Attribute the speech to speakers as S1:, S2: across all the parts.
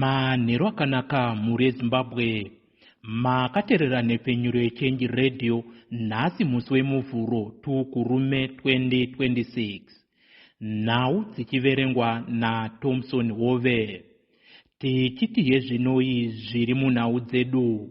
S1: manhero akanaka mhuri yezimbabwe makaterera nhepfenyuro yechenji radio nhasi musi wemuvhuro tukurume 2026 nhau dzichiverengwa natomson hove tichiti hezvinoi zviri munhau dzedu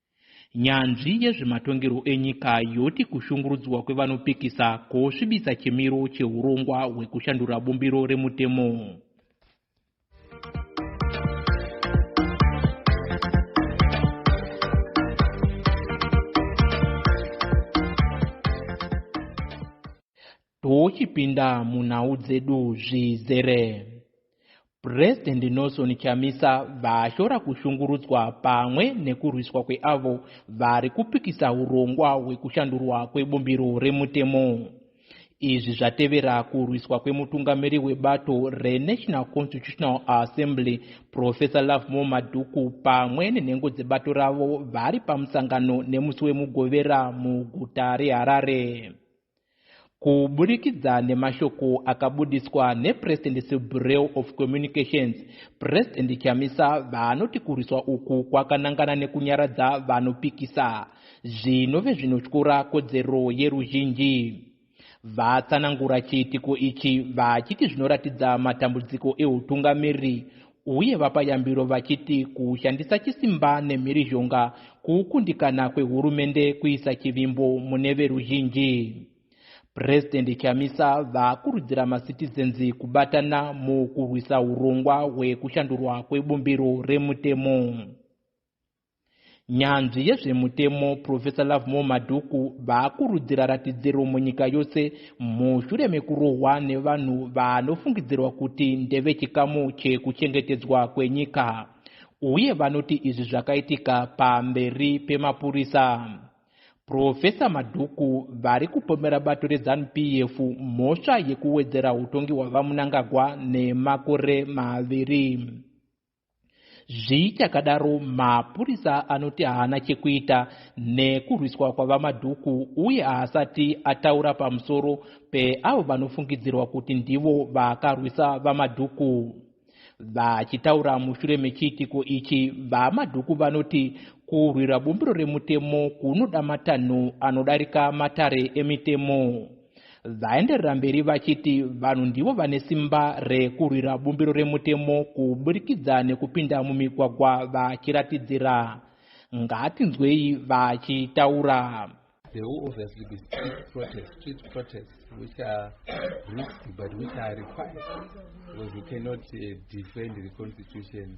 S1: Nyanzvi yezvematongerwo enyika yoti kushungurudzwa kwevanopikisa kwosvibisa chimiro chehurongwa hwekushandura bumbiro remutemo. Tochipinda munhau dzedu zvizere. President Nelson Chamisa vashora kushungurudzwa pamwe nekurwiswa kweavo vari kupikisa hurongwa hwekushandurwa kwebumbiro remutemo. Izvi zvatevera kurwiswa kwemutungamiri webato reNational Constitutional Assembly Professor Lovemore Madhuku pamwe nenhengo dzebato ravo vari pamusangano nemusi weMugovera muguta reHarare. Kuburikidza nemashoko akabudiswa nePresident Sebureau of Communications, President Chamisa vaanoti kurwiswa uku kwakanangana nekunyaradza vanopikisa, zvinove zvinotyora kodzero yeruzhinji. Vatsanangura chiitiko ichi vachiti zvinoratidza matambudziko ehutungamiriri uye vapa yambiro vachiti kushandisa chisimba nemhirizhonga kukundikana kwehurumende kuisa chivimbo mune veruzhinji purezidendi chamisa vakurudzira masitizenzi kubatana mukurwisa urongwa hwekushandurwa kwebumbiro remutemo Nyanzvi yezvemutemo Professor Lovemore Madhuku vakurudzira ratidziro munyika yose mushure mekurohwa nevanhu vanofungidzirwa kuti ndevechikamu chekuchengetedzwa kwenyika uye vanoti izvi zvakaitika pamberi pemapurisa. Profesa Madhuku vari kupomera bato reZanu-PF mhosva yekuwedzera utongi hwaVaMnangagwa nemakore maviri. Zvichakadaro, mapurisa anoti haana chekuita nekurwiswa kwaVaMadhuku uye haasati ataura pamusoro peavo vanofungidzirwa kuti ndivo vakarwisa VaMadhuku. Vachitaura mushure mechiitiko ichi, VaMadhuku vanoti kurwira bumbiro remutemo kunoda matanho anodarika matare emitemo. Vaenderera mberi vachiti vanhu ndivo vane simba rekurwira bumbiro remutemo kuburikidza nekupinda mumigwagwa vachiratidzira. Ngatinzwei vachitaura. There will
S2: obviously be street protests, street protests which are risky but which are required because you cannot uh, defend the constitution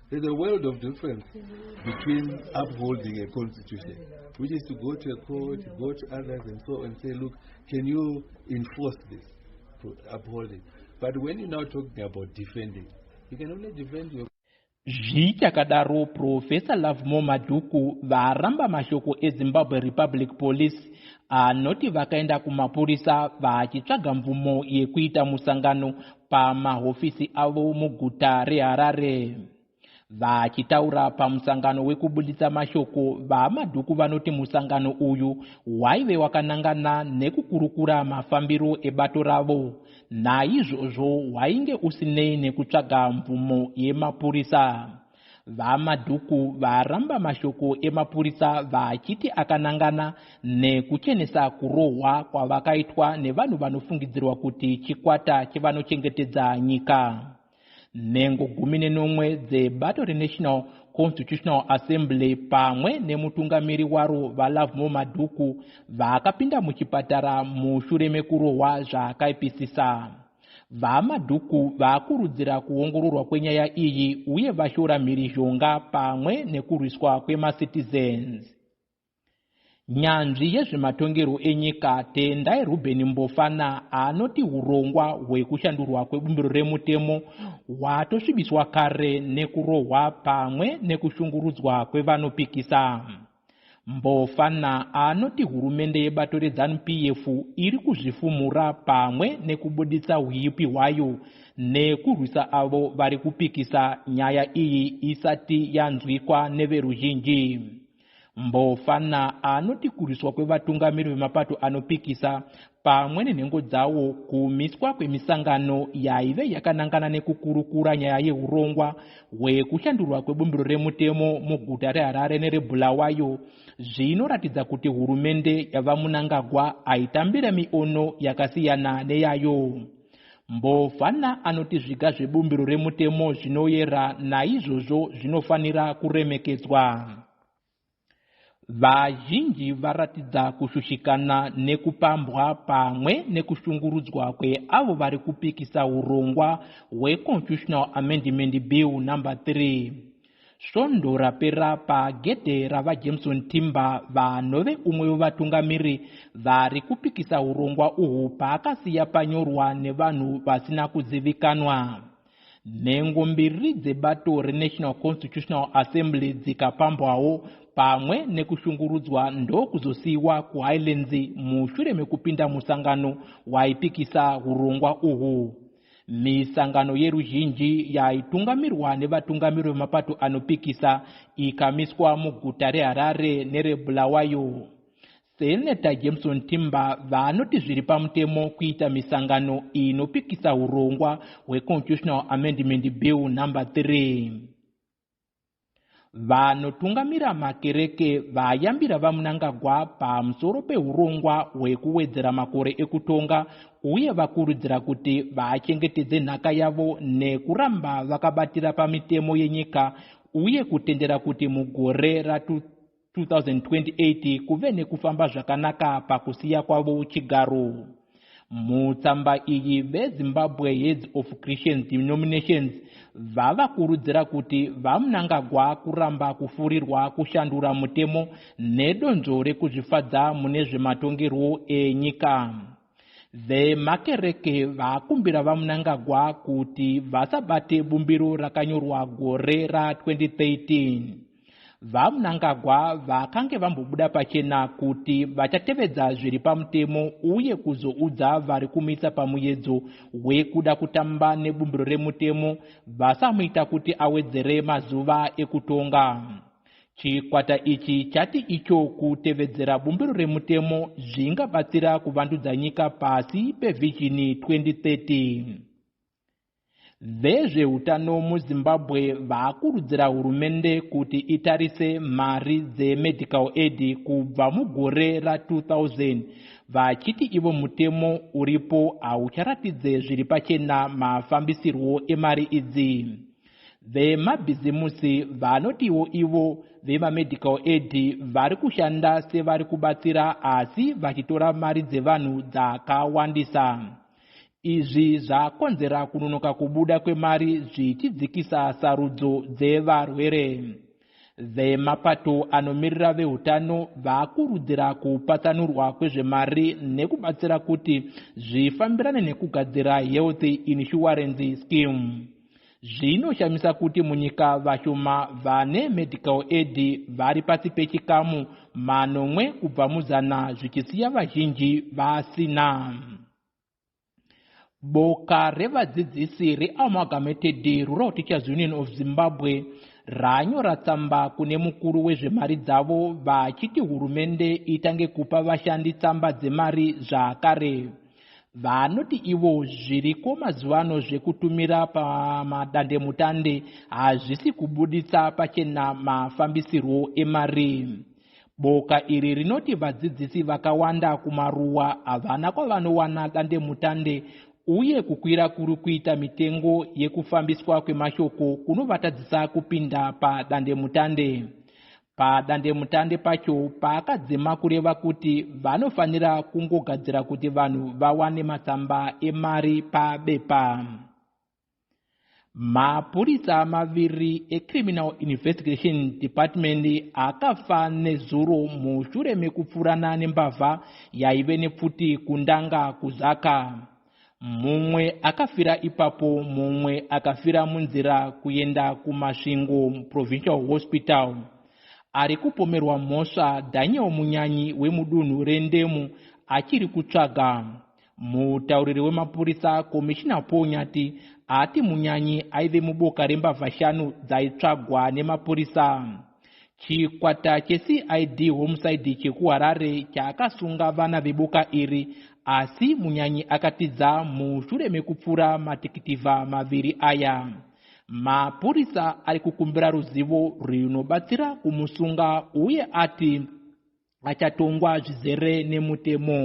S2: There's a world of difference between upholding a constitution, which is to go to a court, go to others and so and say, look, can you enforce this, to uphold it? But when you're now talking about defending, you can only defend your zvichakadaro
S1: profesa lovemore madhuku varamba mashoko ezimbabwe republic police anoti vakaenda kumapurisa vachitsvaga mvumo yekuita musangano pamahofisi avo muguta reharare vachitaura pamusangano wekubuditsa mashoko vamadhuku vanoti musangano uyu waive wakanangana nekukurukura mafambiro ebato ravo naizvozvo wainge usinei nekutsvaga mvumo yemapurisa VaMadhuku varamba mashoko emapurisa vachiti akanangana nekuchenesa kurohwa kwavakaitwa nevanhu vanofungidzirwa kuti chikwata chevanochengetedza nyika. Nhengo gumi nenomwe dzebato reNational Constitutional Assembly pamwe nemutungamiri waro VaLovemore Madhuku vakapinda muchipatara mushure mekurohwa zvakaipisisa. VaMadhuku vakurudzira kuongororwa kwenyaya iyi uye vashora mhirizhonga pamwe nekurwiswa kwemacitizens. Nyanzvi yezvematongerwo enyika Tendai Ruben Mbofana anoti hurongwa hwekushandurwa kwebumbiro remutemo hwatosvibiswa kare nekurohwa pamwe nekushungurudzwa kwevanopikisa. Mbofana anoti hurumende yebato reZanu-PF iri kuzvifumura pamwe nekubuditsa huipi hwayo nekurwisa avo vari kupikisa nyaya iyi isati yanzwikwa neveruzhinji. Mbofana anoti kurwiswa kwevatungamiri vemapato anopikisa pamwe nenhengo dzawo kumiswa kwemisangano yaive yakanangana nekukurukura nyaya yeurongwa hwekushandurwa kwebumbiro remutemo muguta reharare nerebulawayo zvinoratidza kuti hurumende yavamunangagwa aitambire miono yakasiyana neyayo mbovana anoti zviga zvebumbiro remutemo zvinoyera naizvozvo zvinofanira kuremekedzwa Vazhinji varatidza kushushikana nekupambwa pamwe nekushungurudzwa kweavo vari kupikisa hurongwa hweConstitutional Amendment Bill number 3 svondo rapera pagedhe ravajameson timber vanove umwe wevatungamiri vari kupikisa urongwa uhwu paakasiya panyorwa nevanhu vasina kuzivikanwa Nhengo mbiri dzebato reNational Constitutional Assembly dzikapambwawo pamwe nekushungurudzwa ndokuzosiyiwa kuHighlands mushure mekupinda musangano waipikisa hurongwa uhwu. Misangano yeruzhinji yaitungamirwa nevatungamiri vemapato anopikisa ikamiswa muguta reHarare nereBulawayo. Seneta Jameson Timba vanoti zviri pamutemo kuita misangano inopikisa hurongwa hweConstitutional Amendment Bill number 3. Vanotungamira makereke vayambira VaMnangagwa pamusoro pehurongwa hwekuwedzera makore ekutonga uye vakurudzira kuti vachengetedze nhaka yavo nekuramba vakabatira pamitemo yenyika uye kutendera kuti mugore ra 2028 kuve nekufamba zvakanaka pakusiya kwavo uchigaro mutsamba iyi vezimbabwe heads of christians denominations vava kurudzira kuti vamunangagwa kuramba kufurirwa kushandura mutemo nedonzvo rekuzvifadza mune zvematongerwo enyika vemakereke vakumbira vamunangagwa kuti vasabate bumbiro rakanyorwa gore ra 2013 VaMnangagwa vakange vambobuda pachena kuti vachatevedza zviri pamutemo uye kuzoudza vari kumisa pamuyedzo wekuda kutamba nebumbiro remutemo vasamuita kuti awedzere mazuva ekutonga. Chikwata ichi chati icho kutevedzera bumbiro remutemo zvingabatsira kuvandudza nyika pasi pevhizhini 2030. Vezvehutano muZimbabwe vakurudzira hurumende kuti itarise mari dzemedical aid kubva mugore ra2000 vachiti ivo mutemo uripo haucharatidze zviri pachena mafambisirwo emari idzi. Vemabhizimusi vanotiwo ivo vemamedical aid vari kushanda sevari kubatsira asi vachitora mari dzevanhu dzakawandisa. Izvi zvakonzera kunonoka kubuda kwemari zvichidzikisa sarudzo dzevarwere. Vemapato anomirira vehutano vakurudzira kupatsanurwa kwezvemari nekubatsira kuti zvifambirane nekugadzira health insurance scheme. Zvinoshamisa kuti munyika vashoma vane medical aid vari pasi pechikamu manomwe kubva muzana zvichisiya vazhinji vasina. Boka revadzidzisi reAmalgamated Rural Teachers Union of Zimbabwe ranyora tsamba kune mukuru wezvemari dzavo vachiti hurumende itange kupa vashandi tsamba dzemari zvakare. Vanoti ivo zviriko mazuva ano zvekutumira pamadandemutande hazvisi kubuditsa pachena mafambisirwo emari. Boka iri rinoti vadzidzisi vakawanda kumaruwa havana kwavanowana dandemutande uye kukwira kuri kuita mitengo yekufambiswa kwemashoko kunovatadzisa kupinda padandemutande. padandemutande pacho paakadzima kureva kuti vanofanira kungogadzira kuti vanhu vawane matsamba emari pabepa mapurisa maviri ecriminal investigation department akafa nezuro mushure mekupfurana nembavha yaive nepfuti kundanga kuzaka mumwe akafira ipapo mumwe akafira munzira kuenda kumasvingo provincial hospital ari kupomerwa mhosva daniel munyanyi wemudunhu rendemu achiri kutsvaga mutauriri wemapurisa komishina paul nyati ati munyanyi aive muboka rembavha shanu dzaitsvagwa nemapurisa Chikwata cheCID Homicide chekuHarare chakasunga vana veboka iri asi munyanyi akatiza mushure mekupfura matikitivha maviri aya. Mapurisa ari kukumbira ruzivo rwunobatsira kumusunga uye ati achatongwa zvizere nemutemo.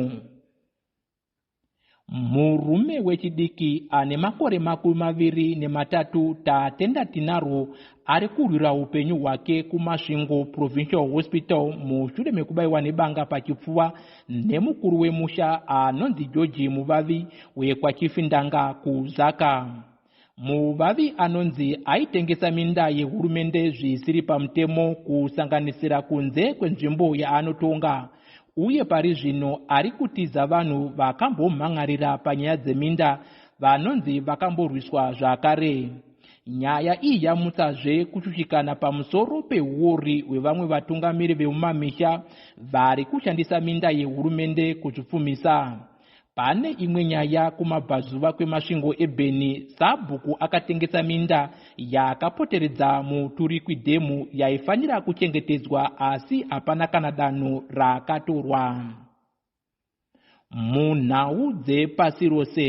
S1: murume wechidiki ane makore makumi maviri nematatu tatenda tinarwo ari kurwira upenyu hwake kumasvingo provincial hospital mushure mekubaiwa nebanga pachipfuva nemukuru wemusha anonzi georgi muvavi wekwachifindanga kuzaka Mubavi anonzi aitengesa minda yehurumende zvisiri pamutemo kusanganisira kunze kwenzvimbo yaanotonga uye pari zvino ari kutiza vanhu vakambomhan'arira panyaya dzeminda vanonzi vakamborwiswa zvakare. Nyaya iyi yamutsazve kushushikana pamusoro pehuori hwevamwe vatungamiri vemumamisha vari kushandisa minda yehurumende kuzvipfumisa. Pane imwe nyaya kumabvazuva kwemasvingo eBeni, sabhuku akatengesa minda yakapoteredza Muturikwi Dhemu yaifanira kuchengetedzwa asi hapana kana danho rakatorwa. Munhau dzepasi rose.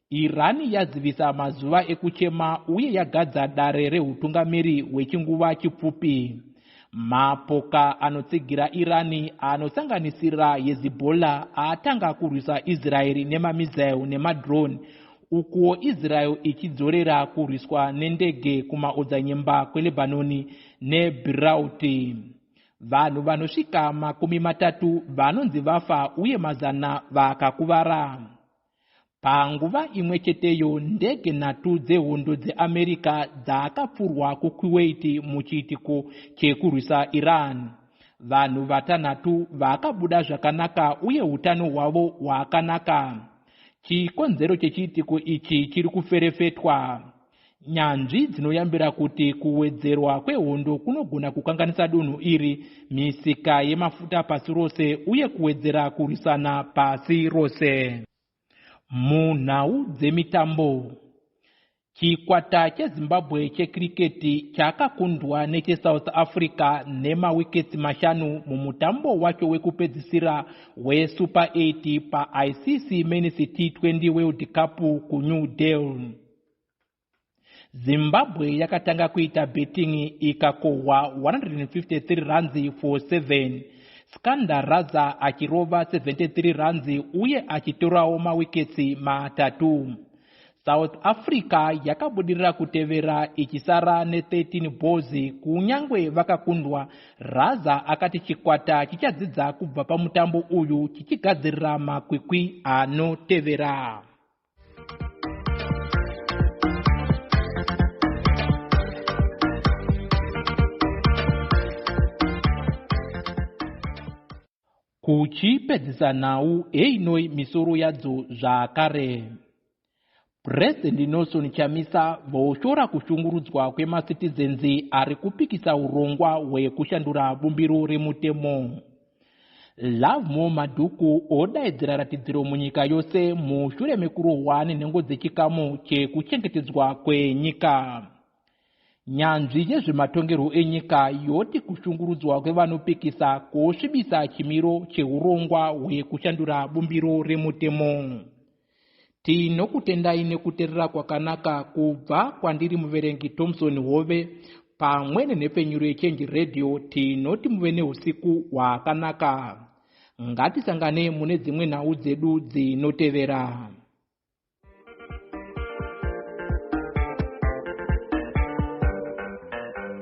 S1: Iran yazivisa mazuva ekuchema uye yagadza dare rehutungamiri hwechinguva chipfupi. Mapoka anotsigira Iran anosanganisira Hezbollah atanga kurwisa Israel nemamizile nemadrone ukuwo Israel ichidzorera kurwiswa nendege kumaodzanyemba kweLebanon neBeirut. Vanhu vanosvika makumi matatu vanonzi vafa uye mazana vakakuvara. Panguva imwe cheteyo, ndege nhatu dzehondo dzeAmerica dzakapfurwa kuKuwait muchiitiko chekurwisa Iran. Vanhu vatanhatu vakabuda zvakanaka uye utano hwavo hwakanaka. Chikonzero chechiitiko ichi chiri kuferefetwa. Nyanzvi dzinoyambira kuti kuwedzerwa kwehondo kunogona kukanganisa dunhu iri, misika yemafuta pasi rose uye kuwedzera kurwisana pasi rose. Munhau dzemitambo chikwata chezimbabwe chekiriketi chakakundwa nechesouth africa nemawiketsi mashanu mumutambo wacho wekupedzisira wesuper 8 paicc men's t20 world cup kunew delhi zimbabwe yakatanga kuita betting ikakohwa 153 ranzi for 7 skanda raza achirova 73 ranzi uye achitorawo mawiketsi matatu south africa yakabudirira kutevera ichisara ne13 balls kunyange vakakundwa raza akati chikwata chichadzidza kubva pamutambo uyu chichigadzirira makwikwi anotevera kuchipedzisa nhau einoi misoro yadzo zvakare purezidendi nelson chamisa voshora kushungurudzwa kwemasitizenzi ari kupikisa urongwa hwekushandura bumbiro remutemo Lovemore Madhuku odaidzira ratidziro munyika yose mushure mekurohwa nenhengo dzechikamu chekuchengetedzwa kwenyika. Nyanzvi yezvematongerwo enyika yoti kushungurudzwa kwevanopikisa kwosvibisa chimiro cheurongwa hwekushandura bumbiro remutemo. Tinokutendai nekuterera kwakanaka kubva kwandiri muverengi Thompson Hove pamwe nenhepfenyuro yechange radio tinoti muve neusiku hwakanaka. Ngatisangane mune dzimwe nhau dzedu dzinotevera.